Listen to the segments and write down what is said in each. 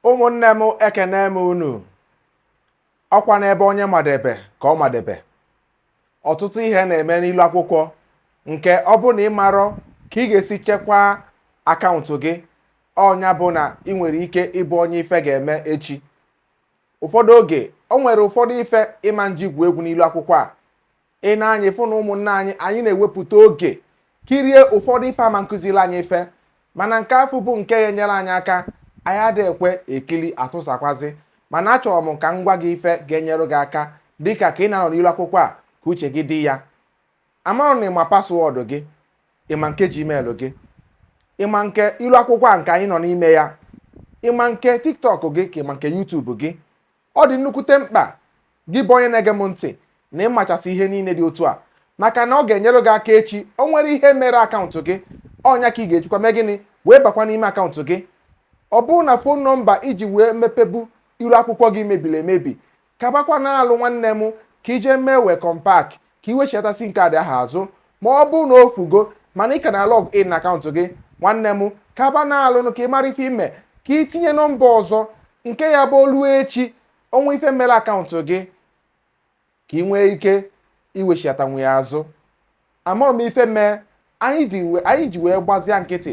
ụmụnne m ekenee m unu ọkwa n'ebe onye madebe ka ọ madebe ọtụtụ ihe na-eme n'ilu akwụkwọ nke ọ bụ na ị marọ ka ị ga-esi chekwaa akaụntụ gị ọ nya bụ na ị nwere ike ịbụ onye ife ga-eme echi ụfọdụ oge o nwere ụfọdụ ife ị ma nji gwuo egwu n'ilu akwụkwọ a ị na anyị fụ na ụmụnne anyị anyị na-ewepụta oge kirie ụfọdụ ife ma-akụziri anyị ife mana nke afụ bụ nke ya-enyere anyị aka anyị adịghị ekwe ekili atụsakwazi mana achọrọ m ka m gwa gị ife ga-enyere gị aka dịka ka ị na-anọ n'ilu akwụkwọ a ka uche gị dị ya marụ na ị ma paswọọdụ gị ị ma nke gmail gị ị ma nke ilu akwụkwọ a nke anyị nọ n'ime ya ị ma nke tiktok gị ka ị ma nke youtube gị ọ dị nnukwute mkpa gị bụ onye na-ege m ntị na ị machasị ihe niile dị otu a maka na ọ ga-enyere gị aka echi o nwere ihe mere akaụntụ gị ọ nya ka ị ga-ejikwa mee gịnị wee bakwa n'ime akaụntụ gị ọ bụrụ na fon nọmba i ji wee mepebu iru akwụkwọ gị mebiri emebi kabakwanụ alụ nwanne m ka i je mee welcome back ka i wechiata sim kaadị ahụ azụ ma ọ bụrụ na o fugo mana ị ka na log in na akaụntụ gị nwanne m kabanụ alụ ka ị mara ife i me ka ị tinye nọmba ọzọ nke ya-abụ o lu echi o nwee ife mere akaụntụ gị ka ị nwee ike iwechiatanwu ya azụ amarọ m ife mee anyị ji wee gbazia nkịtị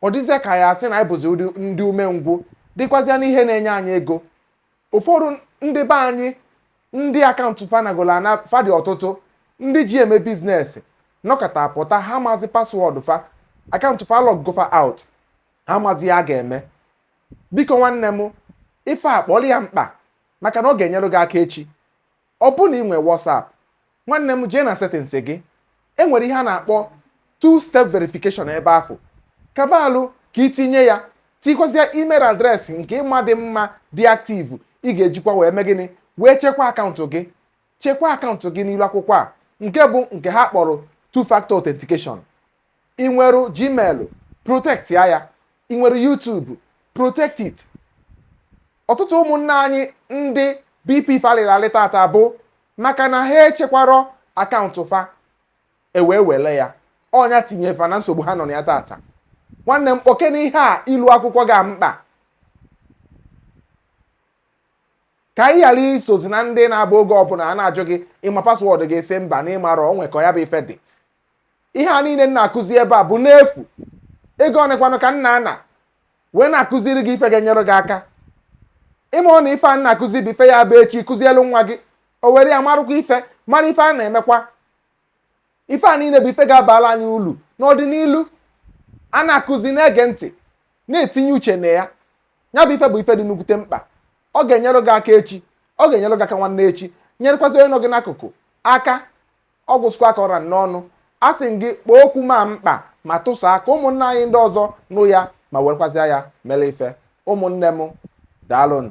ọ dịzịa ka a sị na anyị bụzi ndị umengwụ dịkwazịa n'ihe na-enye anyị ego Ụfọdụ ndị be anyị ndị akaụntụ fa nagolu ana fa dị ọtụtụ ndị ji eme bizinesi nọkata pụta ha amazi paswọọdụ fa akaụntụ fa lọggo fa out ha amazi ihe a ga-eme biko nwanne m ife a kpọrọ ya mkpa maka na ọ ga-enyere gị aka echi Ọ bụ na ị nwee WhatsApp, nwanne m jee na settings gị. E nwere ihe a na-akpọ two step verification ebe afụ. Kaba alụ ka ị tinye ya, tikwazịa email adreesị nke ị ma dị mma dị active ị ga-ejikwa wee mee gịnị wee chekwa akaụntụ gị. Chekwa akaụntụ gị n'ilu akwụkwọ a nke bụ nke ha kpọrọ two factor authentication. ị nwere gmail protectia ya ị nwere YouTube protect it ọtụtụ ụmụnna anyị ndị BP fa lịrị alị tata bụ maka na ha echekwarọ akaụntụ fa e wee were ya ọ nya tinye fa na nsogbu ha nọ na ya tata nwanne m kpọkene ihe a ilu akwụkwọ gị mkpa ka ị ghara isozi na ndị na-abụ oge ọbụla a na-ajụ gị ị ma paswọọdụ gị ị sị mba na ị marọ o nwe ka ya bụ ife dị ihe a niile m na-akụzi ebe a bụ n'efu ego one kwanụ ka m na-ana wee na-akụziri gị ife ga-enyere gị aka ịma ọ na ife m na-akụzi bụ ife ya bụ echi ị kụzielu nwa gị o were ya marụkwa ife mara ife a na-emekwa ife a niile bụ ife ga-abala anyị ulu n'ọdịnihu a na-akụzi na-ege ntị na-etinye uche na ya ya bụ ife bụ ife dị nnukwute mkpa ọ ga-enyere gị aka echi ọ ga-enyere gị aka nwanne echi nyerekwazị onye nọ gị n'akụkụ aka Ọ gwụsịkwa ka ọ ra m n'ọnụ, asị m gị kpọọ okwu m a mkpa ma tụsaa ka ụmụnna anyị ndị ọzọ nụ ya ma werekwazịa ya mere ife. Ụmụnne m, daalụnụ.